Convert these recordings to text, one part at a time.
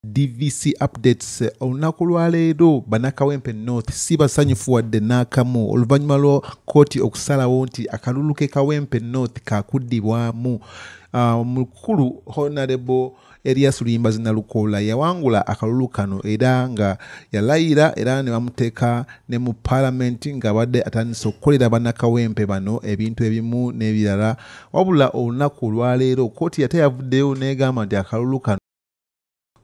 DVC updates olunaku lwaleero banakawempe north si basanyufu wadde n'akamu oluvannyuma lwa kkooti okusalawo nti akalulu ke kawempe north kakuddibwamu uh, mukulu honarable erias luyimba zinalukoola yawangula akalulu kano era nga yalayira era ne bamuteeka ne mu palamenti ng'abadde atandise okukolera banakawempe bano ebintu ebimu n'ebirala wabula olunaku olwaleero kkooti yate yavuddeyo n'egamba nti akalulu kano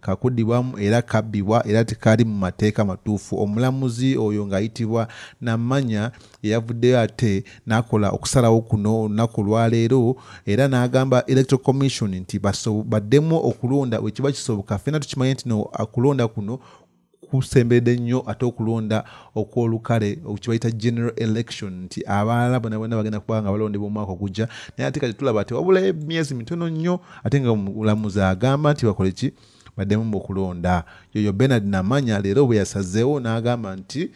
kakudibwamu era kabbibwa era tekaali mu mateeka matuufu omulamuzi oyo ng'ayitibwa namanya eyavuddeyo ate n'akola okusalawo kuno olunaku olwaleero era n'agamba electoral commission nti baddemu okulonda wekiba kisoboka fena tukimanye nti no kulonda kuno kusemberedde nnyo ate okulonda okwolukale kyebayita general election nti abalala bona bona bagenda kuba nga balondebwa omwaka ogujja naye ate kati tulaba ati wabula emyezi mitono nnyo ate nga mulamuzi agamba nti bakole ki baddemu okulonda yoyo benard namanya leero bwe yasazeewo n'agamba nti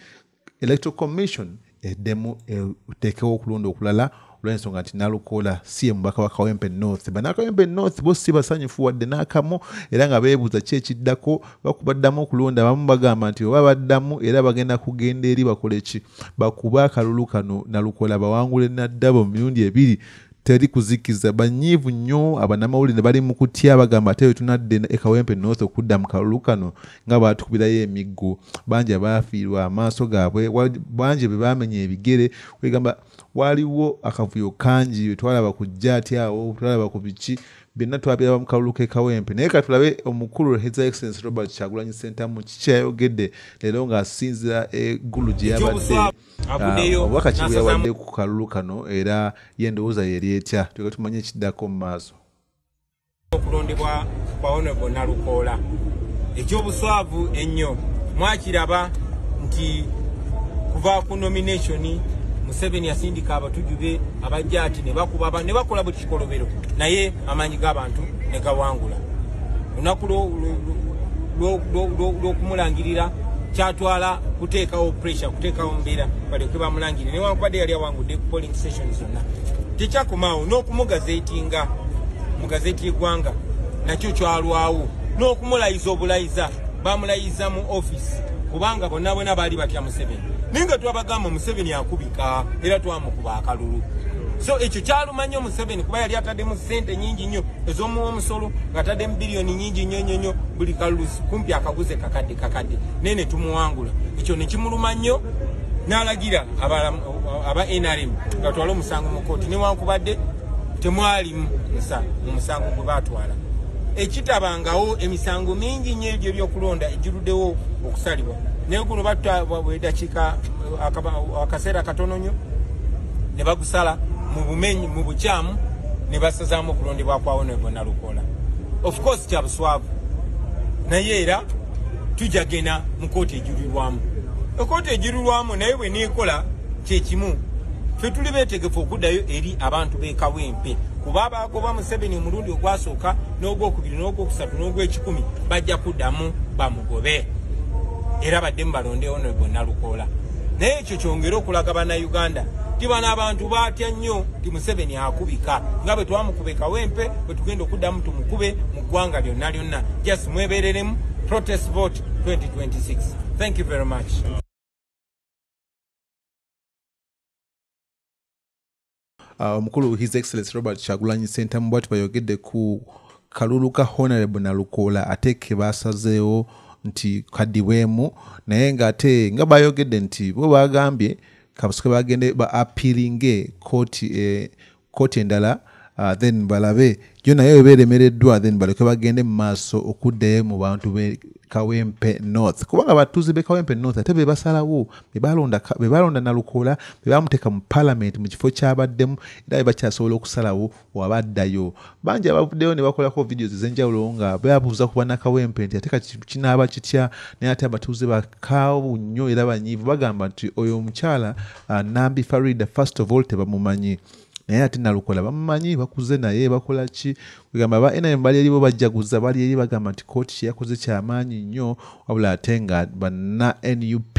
electoral commission eddemu eteekewo okulonda okulala olwensonga nti nalukoola si ye mubaka wa kawempe north banakawempe north bo si basanyufu wadde n'akamu era nga beebuuza ki ekiddako bakuba ddamu okulonda abamu bagamba nti oba baddamu era bagenda kugenda eri bakole ki bakuba akalulu kano nalukoola bawangule naddabo mu mirundi ebiri teri kuzikiza banyiivu nnyo abanamawulire bali mu kutya bagamba ate wetunadde ekawempe north okudda mu kalulu kano nga baatukubirayo emiggo bangi abaafiirwa amaaso gaabwe bangi be baamenya ebigere kwegamba waaliwo akavuyo kangi wetwalaba ku jjaati awo twalaba ku biki byonna twabiraba mu kalulu k'ekawempe naye katulabe omukulu his excellence robert kyagulanyi sentamu kikyayogedde leero ng'asinzira eggulu gye yabadde avuddeyo obubaka ki bweyawadde ku kalulu kano era ye endowooza yeri etya tuga tumanye ekiddako mu maaso okulondebwa kwa onebo nalukoola ekyobuswavu ennyo mwakiraba nti kuva ku nomination museveni yasindika abatujju be abajja ati ne bakuba ne bakola buli kikolobero naye amaanyi g'abantu ne gawangula lunaku lwokumulangirira kyatwala kuteekawo pressure kuteekawo mbeera balyoke bamulangire newankubadde yali awangudde ku polling station zonna tekyakomaawo n'okumugazetinga mu gazeti y'eggwanga nakyo kyalwawo n'okumulayiza obulayiza bamulayiza mu office kubanga bonna bona baali batya museveni naye nga twabagamba museveni akubika era twamukuba akalulu so ekyo kyalumanya museveni kuba yali ataddemu sente nyingi nnyo ez'omuwa omusolo ng'ataddemu biliyoni nyingi nnyo nnyo nnyo buli kalulusi kumpi akaguze kakadde kakadde naye ne tumuwangula ekyo ne kimuluma nnyo n'alagira aba nrm ngatwala omusango mu kooti newankubadde temwalimu mu musango gwe baatwala ekitabangawo emisango mingi nnyo egyo ebyokulonda egiruddewo okusalibwa naye guno batwabwedakiika akaseera katono nyo ne bagusala mu bumenyi mu bukyamu ne basazaamu okulondebwa kwawo ne bona lukola of course kya buswavu naye era tujja genda mu kooti ejulirwamu ekooti ejulirwamu naye bwe neekola kye kimu fe tuli beetegefu okuddayo eri abantu b'ekawempe kuba abaagoba museveni omulundi ogwasooka n'ogwokubiri n'ogwokusatu n'ogwekikumi bajja kuddamu bamugobe era badde mu balondewo no bonna lukoola naye ekyo kyongere okulaga bannayuganda nti bano abantu batya nnyo nti museveni akubika nga bwe twamukube kawempe bwe tugenda okuddamu tumukube mu ggwanga lyonna lyonna just mwebereremu protest vote 2026 thank you very much Ah, omukulu his excellence robert kyagulanyi sentamu bwati bayogedde ku kalulu ka honorable nalukoola ate ke basazeewo nti kadibwemu naye nga ate nga bayogedde nti bo bagambye kabusuke bagende ba apiringe kooti eh, kooti endala ah, then balabe yo naye eba eremereddwa then baleke bagende mu maaso okuddayo mu bantu be kawempe north kubanga abatuuze be kawempe north ate bebasalawo bebalonda nalukoola bebamuteeka mu palamenti mu kifo kyabaddemu era bebakyasobola okusalawo wabaddayo bangi abavuddeyo nebakolako vidiyo ezenjawulo nga beabuuza ku banakawempe nti ate kati kinaaba kitya naye ate abatuuze bakaawu nnyo era banyiivu bagamba nti oyo omukyala ah, nambi farida first of all tebamumanyi naye ate nalukola bamumanyi bakuze naye bakola ki kwegamba ba nrm bali eribo bajjaguza bali eri bagamba nti kooti kyeyakoze kyamaanyi nnyo wabula ate nga banna nup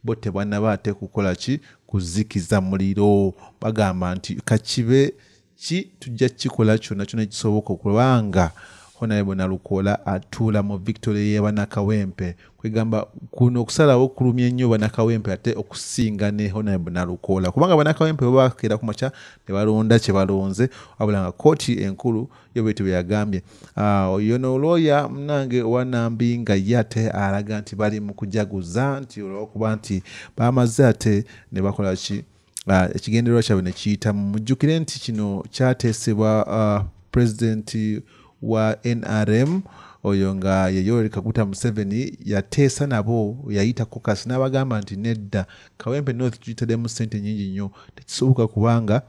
bo tebanaba ate kukola ki kuzikiza muliro bagamba nti kakibe ki tujja kukikola kyonna kyona ekisoboka okubanga honarebo nalukola atuula mu victory yebanakawempe kwegamba kuno okusalawo kulumya ennyo banakawempe ate okusinga ne honorable nalukoola kubanga banakawempe babakeera ku makya ne balonda kye balonze wabula nga kooti enkulu yo bwetyo bwe yagambye ah, oyo noolwoya munange owanambi nga ye ate alaga nti bali mu kujaguza nti olwokuba nti bamaze ate ne bakola ki ah, ekigendererwa kyabwe ne kiyitamu mujjukire nti kino kyateesebwa ah, pulezidenti wa nrm oyo nga yeyoweri kaguta museveni yateesa nabo yayita kokas n'abagamba nti nedda kawempe north tuyitademu sente nyingi nnyo tekisoboka kubanga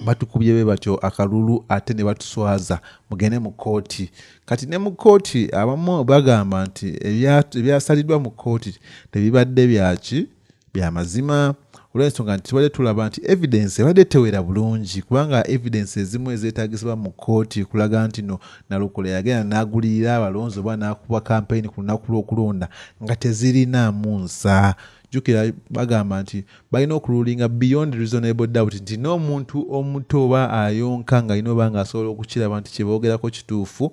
batukubye be batyo akalulu ate ne batuswaza mugende mu kkooti kati ne mu kkooti abamu bagamba nti ebyasaliddwa mu kkooti tebibadde byaki byamazima olwensonga nti tubadde tulaba nti evidence ebadde tewera bulungi kubanga evidence ezimu ezetagisibwa mu kooti kulaga nti no nalukola yagenda nagulirira abalonzi oba nakuba kampeyini ku lunaku lwokulonda nga tezirinaamu nsa jukira bagamba nti balina okululinga beyond reasonable doubt nti n'omuntu omuto oba ayonka nga alina oba nga asobola okukiraba nti kyebogerako kituufu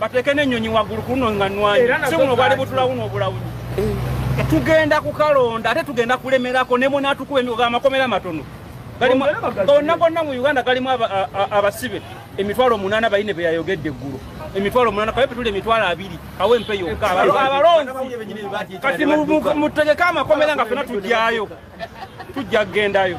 bateeke n'ennyonyi waggulu ku luno nga nwanyi si buno bwali butulawuno obulawuni eh. tugenda kukalonda ate tugenda kulemerako ne munaatukuba emigo gamakomera amatono gonna gonna mu uganda galimu abasibe emitwalo omunaana bayine be yayogedde eggulu emitwalo omunaana kabe petula emitwalo abiri awo empe yokka abalonzi kati mutegeke amakomera nga fena tugyayo tujja kugendayo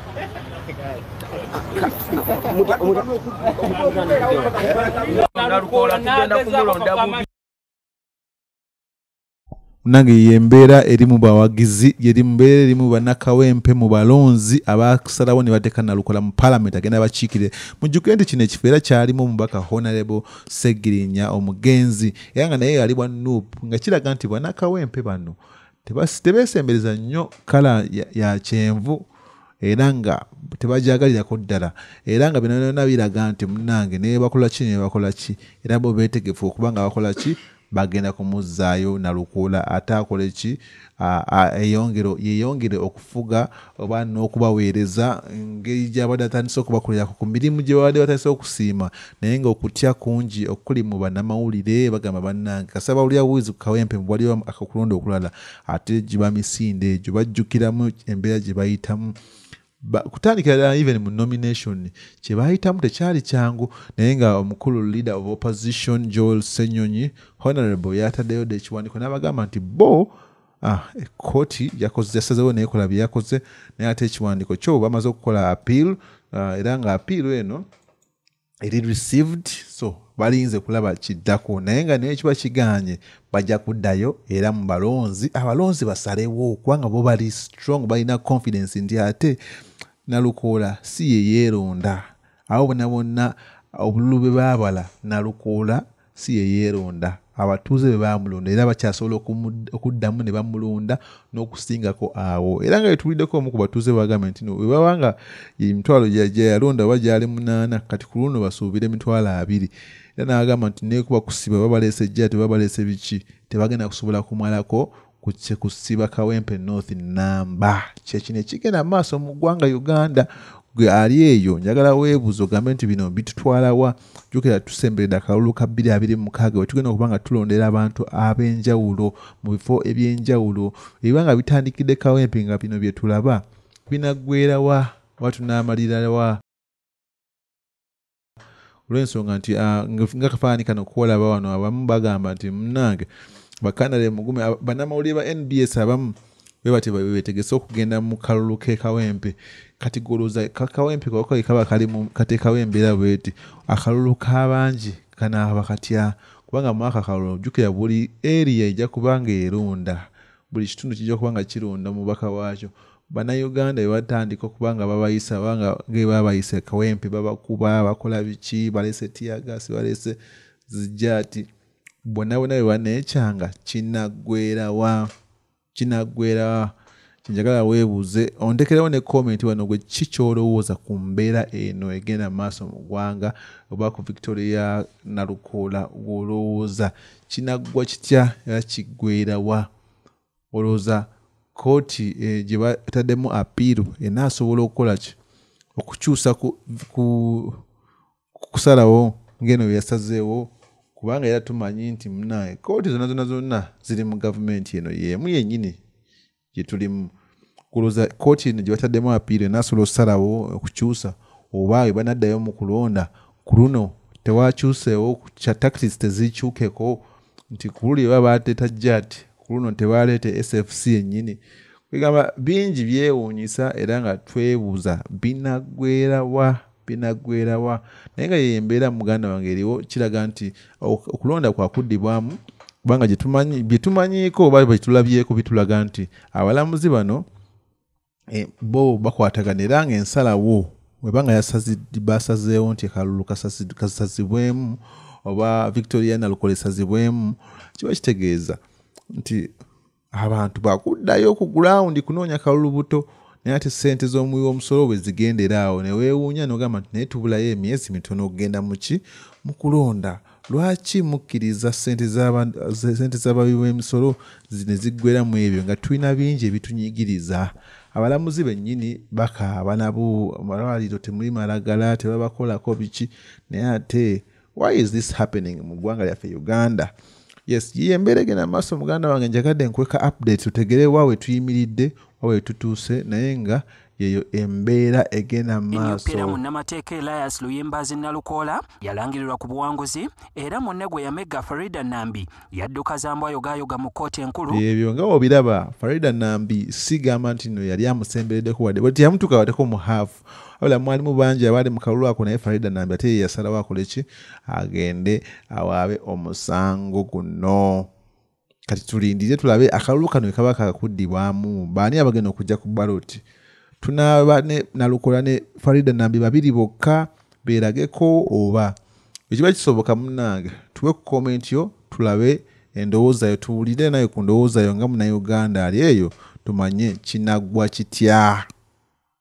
munange yembeera eri mu bawagizi yeri mubeera eri mu banakawempe mu balonzi abasalawo ne bateeka nalukola mu palamenti agenda bakiikire mujjuke nti kino ekifo era kyalimu omubaka honarebo segirinya omugenzi era nga naye yali bwa nup nga kiraga nti banakawempe bano tebeesembereza nnyo kala ya kyenvu era nga tebagyagalirako ddala era nga binabyona biraga nti munange naye bakola ki naye bakola ki era bo beetegefu okuba nga bakola ki bagenda kumuzzaayo nalukoola ate akole ki yeyongere okufuga oba n'okubaweereza ngeri gy'abadde atandise okubakolerako ku mirimu gye babadde batandise okusiima naye ng'okutya kungi okuli mu bannamawulire bagamba bannange kasaba olya buwizi ku kawempe mu bwaliwo akakulonda okulala ate giba misinde egyo bajjukiramu embeera gye bayitamu kutandikira ddala even mu nomination kye baayitamu tekyali kyangu naye nga omukulu leader of opposition joel senyonyi honorable yataddeyo dda ekiwandiiko n'abagamba nti bo Ah, ekkooti yakoze yasazewo nekola byeyakoze naye ate ekiwandiiko kyo bamaze okukola appeal ah, era nga appeal eno eri received so balinze kulaba kiddako naye nga naye kiba kiganye bajja kuddayo era mu balonzi abalonzi basalewo kubanga bo bali strong balina confidence nti ate nalukoola si yeyeeronda abo bona bonna obululu bwe baabala nalukoola si ye yeeronda abatuuze be baamulonda era bakyasobola okuddamu ne bamulonda n'okusingako awo era nga betuwuliddeko omu ku batuuze bagambye nti bwe baba nga emitwalo gyeyalonda oba gyali munaana kati ku luno basuubira emitwalo abiri era n'agamba nti nekuba kusiba babaleese ejjaa tebabaleese biki tebagenda kusobola kumalako kutse kusiba kawempe north namba kyekino ekigenda maaso mu ggwanga uganda gwe ali eyo njagala weebuuza ogambe nti bino bitutwalawa jukira tusembereda akalulu ka 226 wetugenda okuba nga tulondera abantu ab'enjawulo mu bifo eby'enjawulo ebiba nga bitandikidde kawempe nga bino bye tulaba binaggwerawa oba tunaamalirawa olwensonga nti ah, nga kafaanani kano kuolaba wano abamu bagamba nti munange bakanale mugume banamawulire ba nbs abamu bebati betegese okugenda mu kalulu kekawempe kati goloza kakawempe kaba katekawo embeera bweti akalulu kabangi kanaaba katya kubanga mwaka kalulu jukira buli eriya ejja kubanga erunda buli kitundu kijja kuba nga kironda omubaka waakyo bannayuganda bebatandika okuba nga babayisa banga ngebabayise kawempe babakuba bakola biki balese tiyagasi balese zijati bonna bonna bebanekyanga kinaggwerawa kinaggwerawa kyenjagala weebuuze ontekerewo ne komenti wano gwe ki kyolowooza ku mbeera eno egenda maaso mu ggwanga oba ku victoria nalukoola gwolowooza kinaggwa kitya era kiggweera wa olowooza kooti eh, gye bataddemu apiiru enaasobola okukola ki okukyusa kusalawo ngeno byeyasazeewo kubanga era tumanyi nti munaye kooti zonna zonna zonna ziri mu gavumenti eno yeemu yennyini gyetulimu kuloza kooti eno gyebataddemu apiira enasobola okusalawo okukyusa oba webanaddayo mu kulonda ku luno tewakyuseewo kya tactics tezikyukeko nti kululi eba bateeta jat ku luno tebaleeta sfc yennyini kwegamba bingi byewuunyisa era nga twebuuza binagwerawa binaggwerawa naye nga yeyo embeera muganda wange eriwo kiraga nti okulonda kwakuddibwamu kubanga byetumanyiiko oba byetulabyeko bitulaga nti abalamuzi bano eh, bo bakwatagana era nga ensalawo webanga basazeewo nti akalulu kasazibwemu oba victoria nalukola esazibwemu kiba kitegeeza nti abantu bakuddayo ku gulawundi kunoonya kalulu buto naye ate sente z'omuwi w'omusolo bwe zigendera awo ne weewuunya nogamba nti naye tubulayo emyezi mitono okugenda muki mu kulonda lwaki mukkiriza sente z'abawi b'emisolo ne ziggwera mu ebyo nga tulina bingi ebitunyigiriza abalamuzi bennyini bakaaba nabo malwaliro temuli malagala tebabakolako biki naye ate why is this happening mu ggwanga lyaffe uganda yes yiyo embeera egenda mu maaso muganda wange njagadde nkweka update tutegere wa we tuyimiridde wa we tutuuse naye nga yeyo embeera egenda mumaasoemyupiira munnamateeka elias luyimbazi nalukoola yalangirirwa ku buwanguzi era munne gwe yamegga farida nambi yadduka zambwayogayoga mu kkooti enkulu ebyo nga obiraba farida nambi sigamba nti no yali amusembereddeko wadde bwe teyamutuuka wadeko mu haafu wabula mwalimu bangi abaali mu kalulu ako naye farida nambi ate yeyasalawo akole ki agende awaabe omusango guno kati tulindire tulabe akalulu kano wekaba kakuddibwamu baani abagenda okujja ku baloti tunaaba nalukola ne farida nambi babiri bokka beerageko oba ekiba kisoboka munange tuwe ku komenti yo tulabe endowooza yo tuwulire naye ku ndowooza yo nga munauganda ali eyo tumanye kinaggwa kitya